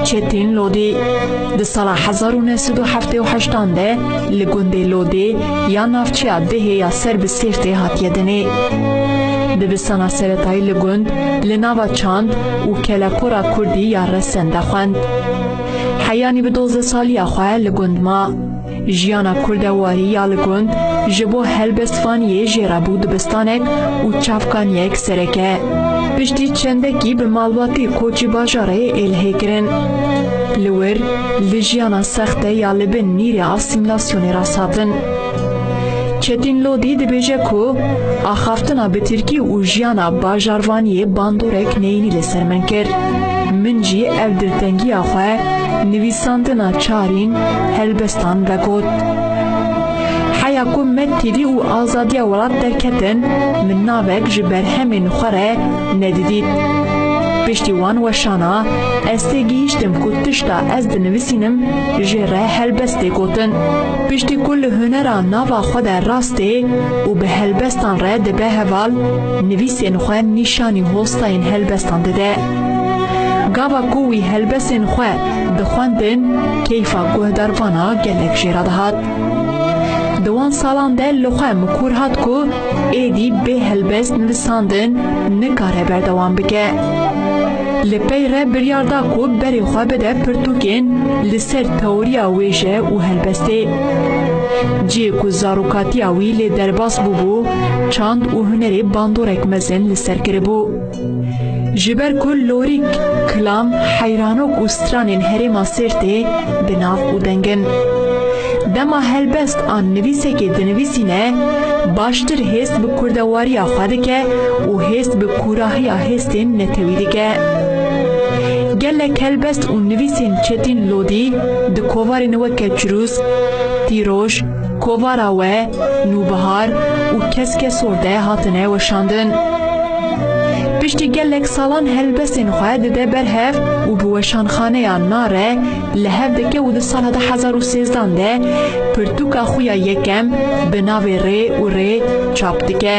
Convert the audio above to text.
Çetin Lodê di sala hezar û neh sed û heftê û heştan de li gundê Lodê ya navçeya Dihê ya ser bi Sêrtê hatiye dinê. Dibistana seretayî li gund li nava çand û kelekora kurdî ya Resen de xwend. Heyanî bi dozdeh saliya xwe li gund ma. Jiyana Kurd e warî ya li gund ji bo helbestvaniyê jê re bû dibistanek û çavkaniyek sereke. Piştî çendekî bi malbatê koçî bajarê Êlihê kirin. Li wir li jiyana sext de ya li bin nîrê asîmîlasyonê rast hatin. Çetîn Lodî dibêje ku axaftina bi tirkî û jiyana bajarvaniyê bandorek neyînî li ser min kir. Min jî ev diltengiya xwe nivîsandina çarîn Helbestan vegot, Heya ku me tîrî û azadiya welat derketin, min navek ji berhemên xwe re nedidît. Piştî wan weşana ez tê gihîştim ku tişta ez dinivisînim jê re helbest tê gotin. Piştî ku li hunera nava xwe de rastê û bi helbestan re dibe heval, nivîsên xwe nîşanî hostayên helbestan dide. Gava ku wî helbesên xwe Dixwendin, keyfa guhdar vana gelek jê re dihat. Di wan salan de li xwe mikûr hat ku êdî bê helbest nivisandin nikare berdewam bike. Li pey re biryar da ku berê xwe bide pirtûkên li ser teoriya wêje û helbestê. Cihê ku zarokatiya wî lê derbas bûbû, çand û hunerê bandorek mezin li ser kiribû. Ji ber ku lorîk, kilam, heyranok û stranên herêma Sêrtê bi nav û deng in. Dema helbest an nivîsekê dinivîsîne, baştir hêst bi kurdewariya xwe dike û hêst bi kûrahiya hêstên netewî dike. Gelek helbest û nivîsên Çetîn Lodî di kovarên weke Çirûsk, Tîroj, Kovara we, Nûbihar û Keske Sorde hatine weşandin. Piştî gelek salan helbestên xwe dide ber hev û bi weşanxaneya Nare li hev dike û di sala du hezar û sêzdan de pirtûka xwe ya yekem bi navê Rê û Rê çap dike.